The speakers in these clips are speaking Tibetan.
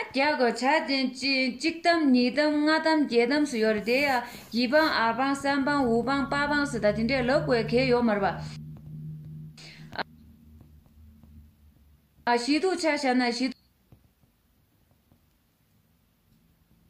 རྒྱ་གོ་ཆ་དེ་གཅིག་དམ་གཉིས་དམ་ལྔ་དམ་བརྒྱད་དམ་སུ་ཡོད་རེད་དེ་ཡང་བཞི་འཕངས་ཨ་འཕངས་སམ་འཕངས་དབུ་འཕངས་པ་འཕངས་སུ་ད་དེ་འདྲས་ལབ་དགོས་གལ་ཡོད་མ་རེད་པ། ཞིག་འདུག་ཆ་བཞག་ན་ཞིག་འདུག།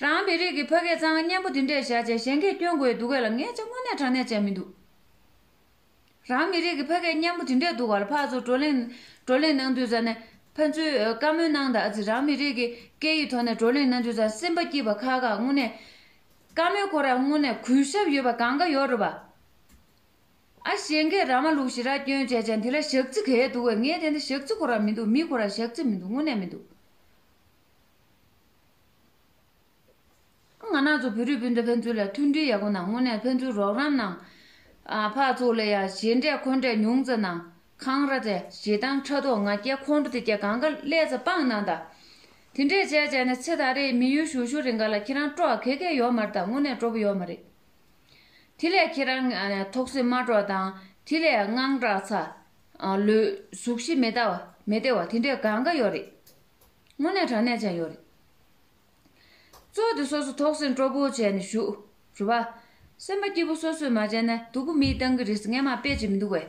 རང་མི་རིགས་ཀྱི་ཕ་སྐད་གཙང་སྙན་པོ་འདི་འདྲས་བཞག་རྗེས་གཞན་སྐད་སྐྱོན་དགོས་འདུག་གས་ལ་ངས་ཅི་དངོས་གནས་དྲང་གནས་བྱས་མི་འདུག། རང་མི་རིགས་ཀྱི་ཕ་སྐད་སྙན་པོ་འདི་འདྲས་འདུག་ག་ལ་ཕ་ཚོ་བགྲོ་གླེང། བགྲོ་གླེང་གནང་དུས་ཙང་ནས་ཕ་ཚོས་བཀའ་མོལ་གནང་དག་ཅིག་རང་མི་རིགས་ཀྱི་སྐད་ཡིག་ཐོག་ནས་བགྲོ་གླེང་གནང་དུས་ཙང་སེམས་པ་སྐྱིད་པ་ཁག་ཁག་དངོས་གནས། བཀའ་མོལ་ཁོ་ར་དངོས་གནས་གུས་ཞབས་ཡོད་པ་གང་ག་ཡོད་རོ་བ། ཨ་གཞན་སྐད་ར་མ་ལུག་ཞིག་ར་སྐྱོན་བྱས་ཅང་དེ་ལ་ཞག་རྩི་གས་འདུག་གས་ངས་དེ་འདྲ་ཞག་རྩི་ཁོ་ར་མི་འདུག་མི་ཁོ་ར་ཞག་རྩི་མི་འདུག་དངོས་གནས་མི་འདུག། ང་ནག་ཚོ་བོད་རིགས་སྤུན་ཟླ་ཕན་ཚུན་ལ་མཐུན་སྒྲིལ་ཡག་པོ་གནང་དངོས་གནས་ཕན་ཚུན་རོགས་རམ་གནང། ཕག་ཚོགས་ལས་ཡ་ཞེ་འདྲས་འཁོན་འདྲས་ཉུང་ཙམ་གནང། འཁང་ར་དེ་ཞེ་སྡང་ཕྲག་དོག་ང་རྒྱལ་ཁོང་ཁྲོ་དེ་རྒྱལ་གང་ག་ཀླད་རྩ་སྤང་གནང་དང། དེ་འདྲས་བྱས་བྱས་ནས་ཚེ་ད་རེས་མི་ཡུལ་བཞུགས་ཤོར་རེ་འགའ་ལ་ཁྱེད་རང་སྤྲོ་བ་གད་གད་ཡོག་མ་རེ་དང་དངོས་གནས་སྤྲོ་པོ་ཡོག་མ་རེ། དེ་ལས་ཁྱེད་རང་ཐོག་སེམས་མ་དྲོ་དང་དེ་ལས་དངངས་སྐྲག་ཚ། ལོས་གཟུགས་གཞི་མེ་ད་མེ་ཏེ་བ་དེ་འདྲས་གང་ག་ཡོག་རེད། དངོས་གནས་དྲང་གནས་ཅན་ཡོད་རེད། ཚོགས་འདི་སོ་སོ་ཐོག་སེམས་སྤྲོ་པོ་བྱས་ནས་ཞུ། དྲི་བ། སེམས་པ་སྐྱིད་པོ་སོ་སོས་མ་བྱས་ན་སྡུག་པོ་མིའི་ཏང་གི་རིས་ངན་མ་དཔེ་ཅིག་མི་འདུག་བས།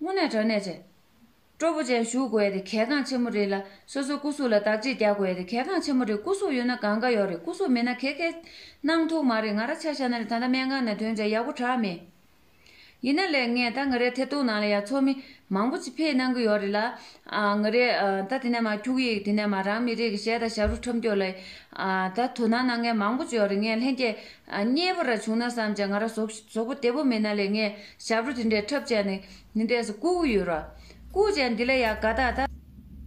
དངོས་གནས་དྲང་གནས་ཅན། སྤྲོ་པོ་ཅན་ཞུ་དགོས་ཡས་དེ་གལ་འགངས་ཆེན་མོ་རེད་ལ་སོ་སོ་སྐུ་གཟུགས་ལ་བདག་གཅེས་རྒྱག་དགོས་ཡས་དེ་གལ་འགངས་ཆེན་མོ་རེད་སྐུ་གཟུགས་ཡོད་ན་གང་དགའ་ཡོད་རེད་སྐུ་གཟུགས་མེད་ན་ཁེ་ཁེ། གནང་ཐུག་མ་རེད་ང་ར་ཆ་ཤ་ན་རེད་ད་ལྟ་སྨན་ཁང་ནས་དོན་བྱས་ཡག་པོ་དྲག་མེད། ཡིན་ན་ལས་ངས་ད་ང་རའི་ཐད་གཏོགས་ནང་ལ་ཡ་ཚོགས་མི་མང་པོ་ཅིག་ཕེད་གནང་གི་ཡོག་རེད་ལ། ང་རའི་ད་དེ་ནས་མ་འཁྱུག་ཡིག་དེ་ནས་མ་རང་མི་རིགས་གཞས་དང་ཞབས་རུ་ཁྲོམ་སྐྱོག་ལ་ཡི། ད་དོ་སྣང་གནང་མཁན་མང་པོ་ཅིག་ཡོག་རེད་ངས་ལྷན་སྐྱེས་རྙེད་པོ་ར་བྱུང་ན་བསམ་ཅེ་ང་ར་ཟོག་པོ་དེ་པོ་མིན་ན་ལས་ངས་ཞབས་རུ་དེ་འདྲས་འཁྲབ་བྱས་ནས་འདི་འདྲས་སུ་བཀུག་གི་ཡོད་ར། བཀུག་བྱས་འདི་ལ་ཡ་དགའ་དག་ད།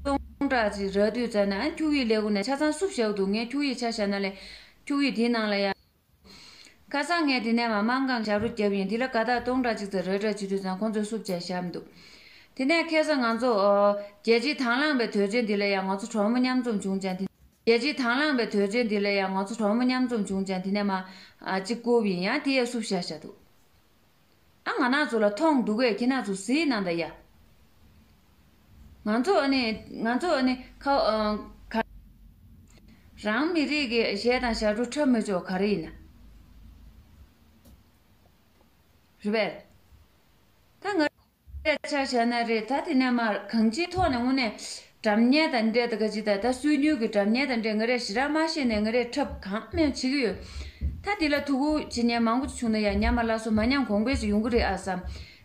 སྟོང་ཕྲག་ཅིག་ར་དུས་ཙར་ནས་ཨ་འཁྱུག་ཡིག་ལས་གོ་ནས་ཆ་ཚང་བསུབ་བཞག་འདུག་ངས་འཁྱུག་ཡིག་ཆ་བཞག་ན་ལས། འཁྱུག་ཡིག་དེའི་ནང་ལ་ཡ། ཁ་སང་ངས་དེ་ནས་མ་མང་གང་ཞབས་རོ་བརྒྱབ་ཡིན་དེ་ལ་དགའ་དག་སྟོང་ཕྲག་གཅིག་ཙམ་རེ་གྲ་བྱེད་དུས་ཙང་ཁོང་ཚོས་བསུབ་བྱས་ཞབས་འདུག་དེ་ནས་ཁེ་སང་ང་ཚོ། རྒྱལ་སྤྱིའི་དང་བླངས་པའི་དོལ་རྒྱལ་འདི་ལ་ཡང་ང་ཚོ་གྲོགས་མོ་མཉམ་འཛོམས་བྱུང་ཅང་དེ། རྒྱལ་སྤྱིའི་དང་བླངས་པའི་དོལ་རྒྱལ་འདི་ལ་ཡང་ང་ཚོ་གྲོགས་མོ་མཉམ་འཛོམས་བྱུང་ཅང་དེ་ནས་མ། གཅིག་བསྐུར་བ་ཡིན་ཡང་དེ་ཡས་བསུབ་བྱས་ཞབས་འདུག། ཨ་ང་ནག་ཚོ་ལ་ཐོངས་འདུག་བས་ཁྱེད་ནག་ཚོ་ཟིའི་ནང་དང་ཡ། ང་ཚོ་ནི་ང་ཚོ་ནི་ཁ་བ་ག། རང་མི་རིགས་ཀྱི་གཞས་དང་ཞབས་བྲོ་འཁྲབ་མི་ཆོག་ག་རེ་ཡིན་ན། རེད་བས། ད་ང། སྐད་ཆ་བཤད་ན་རེད་ད་དེ་ནས་མ་གང་ཅིའི་ཐོག་ནས་དངོས་གནས་དྲ་བརྙན་དང་འདྲེས་ད་ག་ཅི་ད་ད་སུས་ཉུལ་གི་དྲ་བརྙན་དང་འདྲེས་ང་རས་ཞི་ར་མ་ཤེས་ནས་ང་རས་འཁྲབ་གང་སྨན་བྱེད་གི་ཡོད་ད་དེ་ལ་ཐུགས་ཁུར་བྱེད་ཉན་མང་པོ་བྱུང་ན་ཡང་ཉམས་མ་བླ་སོ་མ་ཉམས་གོང་འཕེལ་ཞིག་ཡོང་གི་རེད་ཨ་བསམ་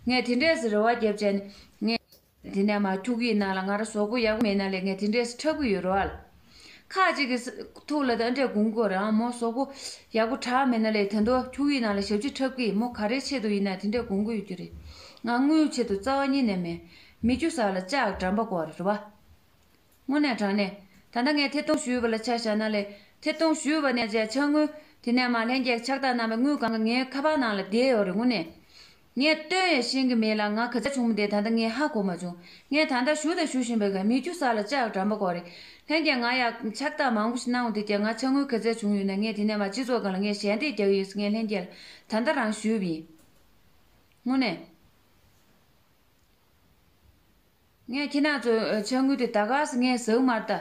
ངས་དེ་འདྲས་སུ་རེ་བ་རྒྱབ་བྱས་ནས་ངས་དེ་ནས་མ་ཐུགས་ཡིད་ན་ལ་ང་ར་ཟོག་པོ་ཡག་པོ་མེད་ན་ལས་ངས་དེ་འདྲས་སུ་འཁྲབ་གི་ཡོད་རོ་ཨ། ཁ་ཅིག་གིས། ཐུགས་ལ་དང་སྒྲས་གུང་བསྒོ་རང་མོ་སོག་པོ། ཡག་པོ་གྲགས་མེད་ན་ལས་དེ་མདོ་ཁྱུང་ཡིག་ནང་ལ་ཞབས་ཕྱི་འཁྲབ་ཀི་མོ་ག་རེའི་ཆེད་དུ་ཡིན་ན་དེ་འདྲས་གུང་བསྒོ་ཡོད་རྒྱུ་རེད། ང་དངུལ་ཆེད་དུ་རྩ་བ་ཉིད་ནས་མེད། མི་རྒྱུ་ཟག་ལ་ལྕགས་འགྲམ་པ་བསྐོར་རེད་བ། དངོས་གནས་དྲང་གནས། ད་ལྟ་ངས་ཐེ་གཏོང་ཞུས་པ་ལ་ཆ་བཞག་ན་ལས་ཐེ་གཏོང་ཞུས་པ་ནས་བཅས་ཆ་དངུལ། དེ་ནས་མ་ལྷན་རྒྱས་ཕྱག་བསྟར་གནང་བའི་དངུལ་གང་གི་ངའི་ཁ་པར་ནང་ལ་བསྡད་ཡོད་རེད་དངོས་གནས། ངས་བཏོན་ཡང་ཤེས་ཀྱི་མེད་ལ་ང་གི་ཚ་ཆུང་མོ་དེས་ད་ལྟ་ངའི་ཧ་གོ་མ་བྱུང། ངས་ད་ལྟ་ཞུ་དང་ཞུ་བཞིན་པའི་ག་མེད་ཀྱུ་ས་ལ་ལྕགས་དྲམ་པ་གོ་རེད། ལྷན་རྒྱས་ང་ཡང་ཕྱག་རྟགས་མང་པོ་ཞིག་གནང་བ་དེས་ཀྱང་ང་ཆ་སྔོན་གི་ཚ་བྱུང་ཡོད་ན་ངས་དེ་ནས་མ་སྤྱི་ཚོགས་གང་ལ་ངས་ཞལ་འདེབས་རྒྱག་གི་ཡོད་ས་ངས་ལྷན་རྒྱས་ལ་ད་ལྟ་རང་ཞུས་པ་ཡིན། དངོས་གནས། ངས་ཁྱེད་རྣམས་ཚོའི་ཆ་དངུལ་དེ་ད་ག་ས་ངས་ཟག་མར་ལྟ།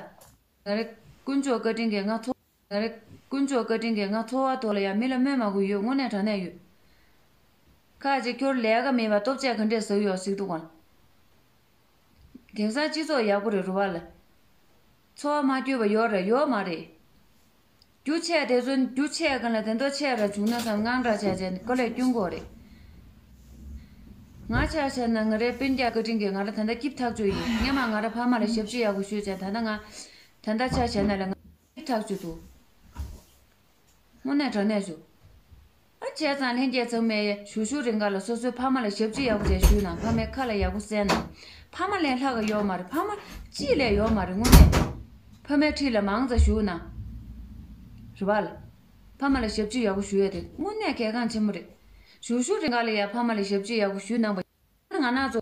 ང་རེད། དཀོན་མཆོག་བཀའ་དྲིན་གྱིས་ང་ཚོ། ད་རེས་དཀོན་མཆོག་བཀའ་དྲིན་གྱིས་ང་འཚོ་བ་ཐོག་ལ་ཡང་མི་ལ་སྨོན་མ་དགོས་ཡོད་དངོས་གནས་དྲང་གནས་ཡོད། ཁ་ཅིག་ཁྱོར་ལས་ཀ་མེད་པ་སྟོབས་ཆས་ག་འདྲས་ཟོས་ཡོད་གཟིགས་འདུག་གམ། དེང་སང་སྤྱི་ཚོགས་ཡག་པོ་རེད་རུ་བ་ལ། འཚོ་བ་མ་སྐྱོ་བ་ཡོད་རེད་ཡོད་མ་རེད། རྒྱུ་ཆས་དེ་ཚོ་རྒྱུ་ཆས་གང་ལ་དེ་འདོག་ཆས་ར་བྱུང་ན་བསམ་དངངས་སྐྲག་བྱས་བྱས་ག་ལས་སྐྱོ་མགོ་རེད། ང་ཆ་ཤར་ན་ང་རའི་དཔོན་རྒྱག་བཀའ་དྲིན་གྱིས་ང་ར་ད་ལྟ་སྐྱིབས་ཐག་ཆོད་ཡིན་སྙམ་མ་ང་ར་ཕ་མ་ལ་ཞབས་ཕྱི་ཡག་པོ་ཞུས་བྱས་ད་ལྟ་ང་དེ་འདྲ་ཆགས་བྱས་ན་ལས་ངན་ཐག་ཆོད་དོ། དངོས་གནས་དྲང་གནས་ཞུ། ཨ་བྱས་ཙང་ལྷན་རྒྱས་ཚང་མས་ཞུ་ཞུ་རེ་འགའ་ལ་སོ་སོའི་ཕ་མ་ལ་ཞབས་ཕྱི་ཡག་པོ་བྱས་ཞུས་ན་ཕ་མའི་ཁ་ལ་ཡག་པོ་གསན་ན་ཕ་མ་ལས་ལྷག་ག་ཡོག་མ་རེད་ཕ་མ་ཅིས་ལས་ཡོག་མ་རེད་དངོས་གནས་ཕ་མའི་ཁྲིས་ལ་མང་ཙ་ཞུས་ན་རེད་བ། ཕ་མ་ལ་ཞབས་ཕྱི་ཡག་པོ་ཞུ་ཡ་དེ་དངོས་གནས་གལ་འགངས་ཆེན་པོ་རེད་ཞུ་ཞུ་རེ་འགའ་ལ་ཡ་ཕ་མ་ལ་ཞབས་ཕྱི་ཡག་པོ་ཞུས་གནང་པ་ཡིན་ན་ང་ནག་ཚོ།